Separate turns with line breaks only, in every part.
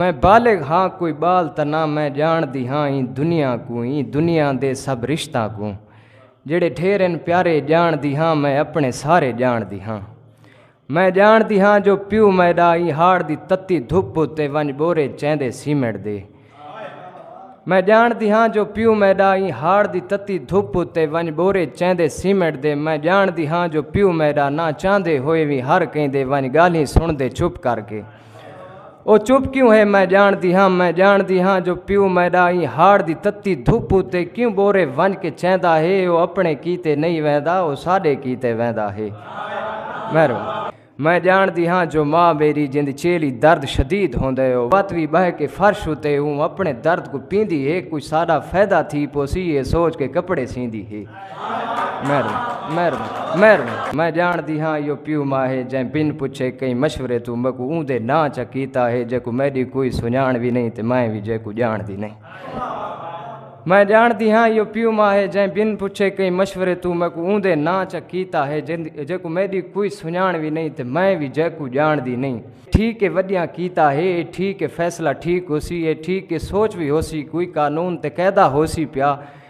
میں بالغ ہاں کوئی بال تاں نہ میں جان دی ہاں ایں دنیا کو ایں دنیا دے سب رشتہ کو جڑے ڈھیر ان پیارے جان دی ہاں میں اپنے سارے جان دی ہاں میں جان دی ہاں جو پیو میڈا ایں ہاڑ دی تتی دھپ تے ونج بورے چیندے سیمنٹ دے میں جان دی ہاں جو پیو میڈا ایں ہاڑ دی تتی دھپ تے ونج بورے چیندے سیمنٹ دے میں جان دی ہاں جو پیو میڈا نہ چاندے ہوئے وی ہر کہیں دے ونج گالیں سن دے چھپ کر کے او چپ کیوں ہے میں جاندی ہاں میں جاندی ہاں جو پیو میڈا ایں ہاڑ دی تتی دھوپ اتے کیوں بورے ونج کے چیندا ہے او اپنے کیتے نہیں ویندا او ساڈے کیتے ویندا ہے مہرو میں جاندی ہاں جو ماں میری جند چیلی درد شدید ہوندا ہے او وت وی بہ کے فرش اتے اوں اپنے درد کو پیندی ہے کوئی ساڈا فائدہ تھی پوسی اے سوچ کے کپڑے سیندی ہے میں جانڑدی ہاں ایہو پیو ماں ہے جئیں بن پچھے کہیں مشورے توں میکوں اوندے ناں چا کیتا ہے جیکوں میڈی کوئی سنجانڑ وی نئیں تے میں وی جیکوں جانڑدی نئیں۔ میں جانڑدی ہاں ایہو پیو ماں ہے جئیں بن پچھے کہیں مشورے توں میکوں اوندے ناں چا کیتا ہے جیکوں میڈی کوئی سنجانڑ وی نئیں تے میں وی جیکوں جانڑدی نئیں۔ ٹھیک ہے وڈیاں کیتا ہے اے ٹھیک ہے فیصلہ ٹھیک ہوسی اے ٹھیک ہے سوچ وی ہوسی کوئی قانون تے قیدہ ہوسی پیا۔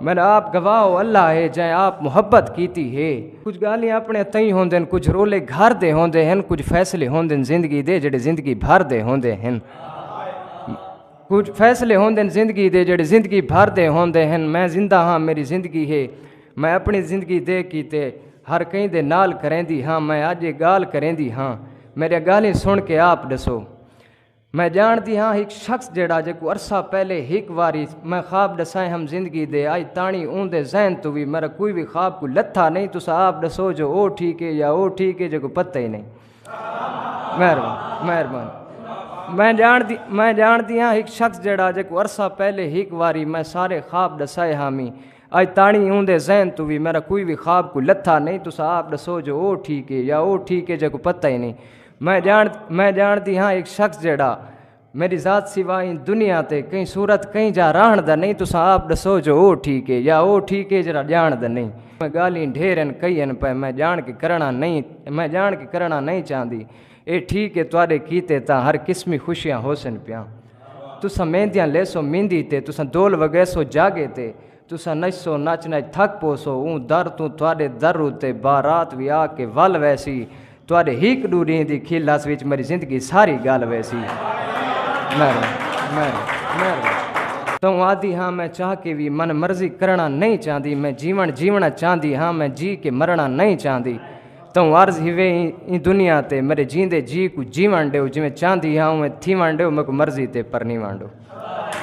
من آپ گواہ او اللہ ہے جیں آپ محبت کیتی ہے۔ کجھ گالھیں اپنے تئیں ہوندن کجھ رولے گھر دے ہوندے ہن کجھ فیصلے ہوندن زندگی دے جڑے زندگی بھر دے ہوندے ہن کجھ فیصلے ہوندن زندگی دے جڑے زندگی بھر دے ہوندے ہن میں زندہ ہاں میری زندگی ہے میں اپنی زندگی دے کیتے ہر کہیں دے نال کریندی ہاں میں اج یہ گال کریندی ہاں میرے گالھیں سن کے آپ ڈسو۔ میں ڄاݨدی ہاں ہک شخص جیڑھا جیکوں عرصہ پہلے ہک واری میں خواب ݙسائے ہم زندگی دے اڄ تاݨی اوندے ذہن توں وی میݙا کوئی وی خواب کوئی لتھا نئیں تساں آپ ݙسو جو او ٹھیک اے یا او ٹھیک اے جیکوں پتہ ای نئیں مہربانی مہربانی میں ڄاݨدی میں ڄاݨدی ہاں ہک شخص جیڑھا جیکوں عرصہ پہلے ہک واری میں سارے خواب ݙسائے ہامی اڄ تاݨی اوندے ذہن توں وی میݙا کوئی وی خواب کوئی لتھا نئیں تساں آپ ݙسو جو او ٹھیک اے یا او ٹھیک اے جیکوں پتہ ای نئیں میں جان میں جانتی ہاں ایک شخص جیڑا میری ذات سوا ان دنیا تے کہیں صورت کہیں جا راہن دا نہیں تساں آپ دسو جو او ٹھیک ہے یا او ٹھیک ہے جڑا جان دا نہیں میں گالیں ڈھیر ان کئی ان پہ میں جان کے کرنا نہیں میں جان کے کرنا نہیں چاہندی اے ٹھیک ہے تواڈے کیتے تا ہر قسمی خوشیاں ہوسن پیاں تساں میندیاں لیسو میندی تے تساں دول وگیسو جاگے تے تساں نچسو، نچ نچ تھک پوسو، اوں در توں تہاڈے در اتے بارات وی آ کے ول ویسی، تہاڈے ہیک ڈو ڈینہہ دی کھل ہس وچ میڈی زندگی ساری گل ویسی۔ مہربانی مہربانی توں آدھی ہاں میں چاہ کے وی من مرضی کرنڑاں نئیں چاہندی، میں جیونڑ جیونڑاں چاہندی ہاں میں جی کے مرنڑاں نئیں چاہندی، توں عرض ہیوے ایں دنیا تے میڈے جیندے جی کوں جیونڑ ڈیو جیویں چاہندی ہاں اونویں تھیونڑ ڈیو میکوں مرضی تے پرنیونڑ ڈیو۔